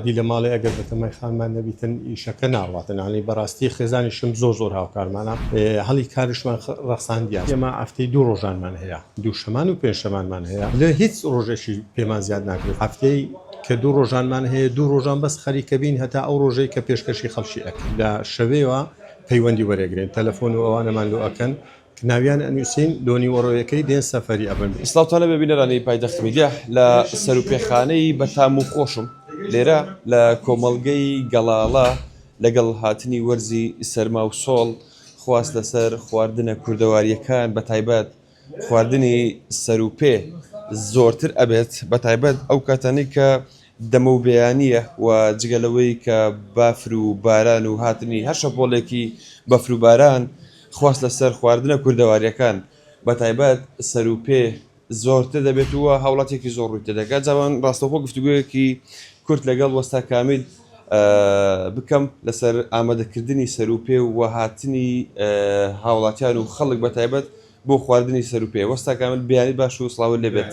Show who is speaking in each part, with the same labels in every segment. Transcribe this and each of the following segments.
Speaker 1: دی لە ماڵێ ئەگەر بەتەمای خانمان نەبیتن ئیشەکە ناڕواتن ئانی بەڕاستی خێزانیشم زۆر زۆر هاوکارمانە هەڵی کارشمان ڕەخساندیان ئێمە ئەفتەی دوو ڕۆژانمان هەیە دووشەمان و پێنجشەمانمان هەیە لە هیچ ڕۆژێکی پێمان زیاد ناکرێت ئەفتەی کە دوو ڕۆژانمان هەیە دوو ڕۆژان بەس خەریکە بین هەتا ئەو ڕۆژەی کە پێشکەشی خەڵکی ئەکەین لە شەوێوا پەیوەندی وەرێگرن تەلەفۆن و ئەوانەمان لۆ ئەکەن ناویان ئەنوسین لۆ نیوەڕۆیەکەی دێن سەفەری ئەبن. سڵاوتان لەبێ بینەرانی
Speaker 2: پایتەخت میدیا لە سەروپێخانەی بەتام و خۆشم لێرە لە کۆمەڵگەی گەڵاڵە لەگەڵ هاتنی وەرزی سەرما و سۆڵ خواست لەسەر خواردنە کوردەواریەکان بەتایبەت خواردنی سەروپێ زۆرتر ئەبێت بەتایبەت ئەو کاتانەی کە دەمە و بەیانییە و جگە لەوەی کە بافر و باران و هاتنی هەر شەپۆڵێکی بەفر و باران خواست لەسەر خواردنە کوردەوارییەکان بە تایبەت سەر و پێ زۆرتر دەبێت و هاوڵاتییەکی زۆر ڕووی تێدەکات جا با ڕاستەوخۆ گفتوگۆیەکی کورت لەگەڵ وەستا کامیل بکەم لەسەر ئامادەکردنی سەر و پێ و هاتنی هاوڵاتیان و خەڵک بە تایبەت بۆ خواردنی سەرو پێ. وەستا کامل بیانی باش و سڵاوت لێ بێت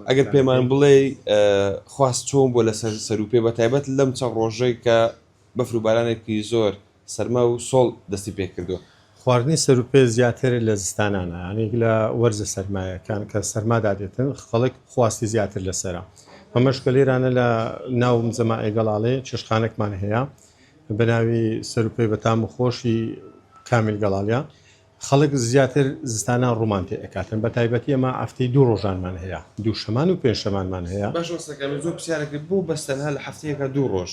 Speaker 2: ئەگەر پێمان بڵێی خواست چۆن بووە لەسەر سەرو پێ بەتایبەت لەم چەند ڕۆژەی کە بەفر و بارانێکی زۆر سەرما و سۆڵ دەستی پێ کردووە. خواردنی سەرو پێ
Speaker 1: زیاتر لە زستانانا یانی لە وەرزە سەرمایەکان کە سەرما دادێتن خەڵک خواستی زیاتر لەسەرە بەمەش کە لێرانە لە ناو مزەمائێ گەڵاڵێ چێشتخانەکمان هەیە بەناوی سەرو پێی بەتام و خۆشی کامیل گەڵاڵە خەڵک زیاتر زستانان ڕوومان پێ ئەکاتن بە تایبەتی ئەمە ئەفتەی دوو ڕۆژانمان هەیە دوو شەمان و پێنج شەمانمان هەیە. باش ڕاست ئەکەی من زۆر پرسیارە
Speaker 2: کرد بۆ بەس تەنها لە هەفتەیەکا دوو ڕۆژ؟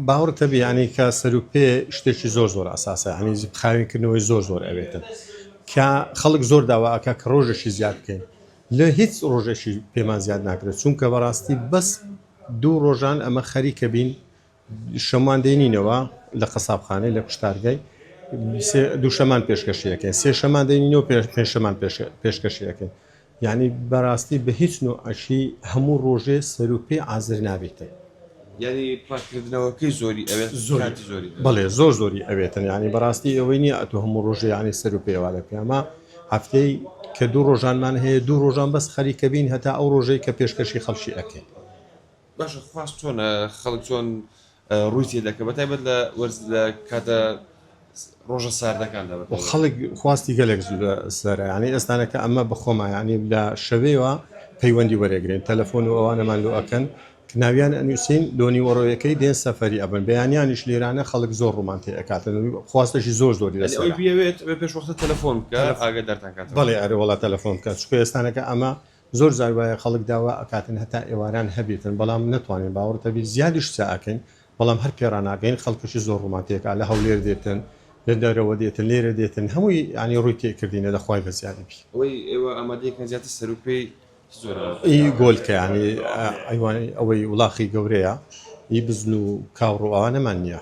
Speaker 2: باوەڕت
Speaker 1: نەبی یانی کە سەرو پێ شتێکی زۆر زۆر ئەساسە یانی خاوێن کردنەوەی زۆر زۆر ئەوێتن کە خەڵک زۆر داوا ئەکا کە ڕۆژێکی زیاد بکەین لە هیچ ڕۆژێکی پێمان زیاد ناکرێت چونکە بەڕاستی بەس دوو ڕۆژان ئەمە خەریکە بین شەممان دەینینەوە لە قەسابخانەی لە کوشتارگای دووشەمان پێشکەشیەکەین سێ شەمان دەینەوە پێشەمان پێشکەشیەکەین یعنی بەڕاستی بە هیچ نوع ئەشی هەموو ڕۆژێ سەروپی ئازر نابێتن یعنی پاکردنەوەکەی
Speaker 2: زۆری ئەوێت زۆری زۆری بڵێ زۆر زۆری
Speaker 1: ئەوێتن یعنی بەڕاستی ئەوەی نیە ئەتو هەموو ڕۆژێ یعنی سەروپێوا لە پیامە هەفتەی کە دوو ڕۆژانمان هەیە دوو ڕۆژان بەس خەریکەبین هەتا ئەو ڕۆژەی کە پێشکەشی خەڵکی ئەکەین باشە
Speaker 2: خواست چۆنە خەڵک چۆن ڕووی تێدەکە بە تایبەت لە وەرز لە کاتە ڕۆژە ساردەکاندا خەڵک خواستی
Speaker 1: گەلێک سەر ینی ئێستانەکە ئەمە بەخۆمایانی لە شەوەیەوە پەیوەندی وەرەگرین تەلەفۆن و ئەوانەمان لۆ ئەکەن ناویان ئەنووسین لۆنی وەڕۆیەکەی دێن سەفری ئەبن بەیانیانیش لێرانە خەڵک زۆر ڕوومان تێ ئەکاتن خواستەشی زۆر زۆری لە بێت پێش وەختە
Speaker 2: تەلەفۆن بکە ئاگە دەرتان کات بەڵێ ئەرە وڵات تەلەفۆن
Speaker 1: بکە چکە ئێستانەکە ئەمە زۆر جار وایە خەڵک داوا ئەکاتن هەتا ئێواران هەبێتن بەڵام نەتوانێن باوەڕت هەبێ زیادیش سا ئەکەین بەڵام هەر پێ ڕاناگەین خەڵکەشی زۆر ڕوومان تێکا لە هەولێر دێتن لە دەرەوە دێتن لێرە دێتن هەمووی یانی ڕووی تێ کردینە لە خوای گەزیاری بی. ئەوەی ئێوە ئامادەی
Speaker 2: کەن زیاتر سەروو پێی چ جۆرە؟ ئی
Speaker 1: گۆلکە یانی ئەیوانەی ئەوەی وڵاخی گەورەیە ئی بزن و کاوڕ و ئەوانەمان نیە.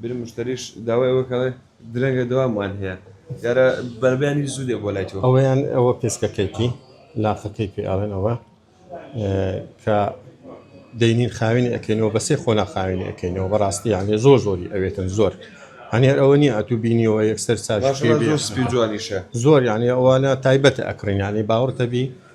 Speaker 2: بیر مشتریش داوای ئەوە کەڵێ درەنگە دەوامان هەیە یارە بەربیانی زوو دێ بۆ لای تۆ ئەوەیان ئەوە پێسکەکەیتی
Speaker 1: لافەکەی پێ ئەڵێن ئەوە کە دەینین خاوێنی ئەکەینەوە بەسێ خۆنا خاوێنی ئەەکەینەوە بەڕاستی یانێ زۆر زۆری ئەوێتن زۆر هەنێر ئەوە نیە ئەتو بینیەوە یەکسەر ساژ جوانیشە
Speaker 2: زۆر یانێ
Speaker 1: ئەوانە تایبەتە ئەکڕینیانی باوەڕتەبی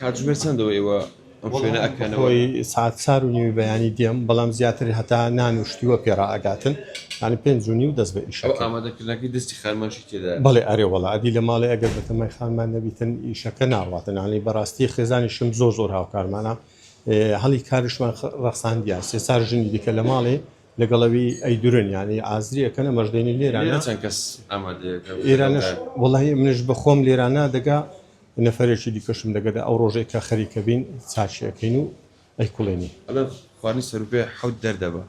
Speaker 2: کاتژمێر چەندە ئێوە ئەم شوێنە ئەکەن؟ ئەوەی
Speaker 1: ساعت چار و نیوی بەیانی دێم بەڵام زیاتر هەتا نان و شتیوە پێڕا ئەگاتن یانی پێنج و نیو دەست بە ئیش ئامادەکردنەکەی دەستی
Speaker 2: خانمانشی تێدا بەڵێ ئەرێ وڵا ئەدی
Speaker 1: لە ماڵی ئەگەر بە تەمای خانمان نەبیتن ئیشەکە ناڕاتنانی بەڕاستی خێزانی شم زۆر زۆر هاوکارمانە هەڵی کارشمان ڕەخساندیان سێ چار ژنی دیکە لە ماڵێ لەگەڵ ئەوی ئەی دورن یانی ئازری ئەکەنە مەژدەینی لێرانە چەند کەس
Speaker 2: ئێرانش
Speaker 1: وڵی منش بەخۆم لێرانە دەگا نەفرێکی دیکەشم دەگەدا ئەو ڕۆژێک کە خەریکە بین چاچیەکەین و ئەی کوڵێنی خوانی
Speaker 2: سەرپێ حەوت دەردەبە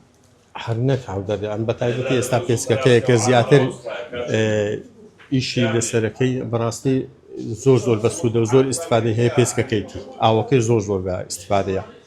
Speaker 2: هەر نەک
Speaker 1: حەوت دەردە ئەم بەتایبەتی ئێستا پێسکەکەیە کە زیاتر ئیشی لەسەرەکەی بەڕاستی زۆر زۆر بە سوودە زۆر ئیسفادە هەیە پێسکەکەیتی ئاوەکەی زۆر زۆر بە ئیسفادەیە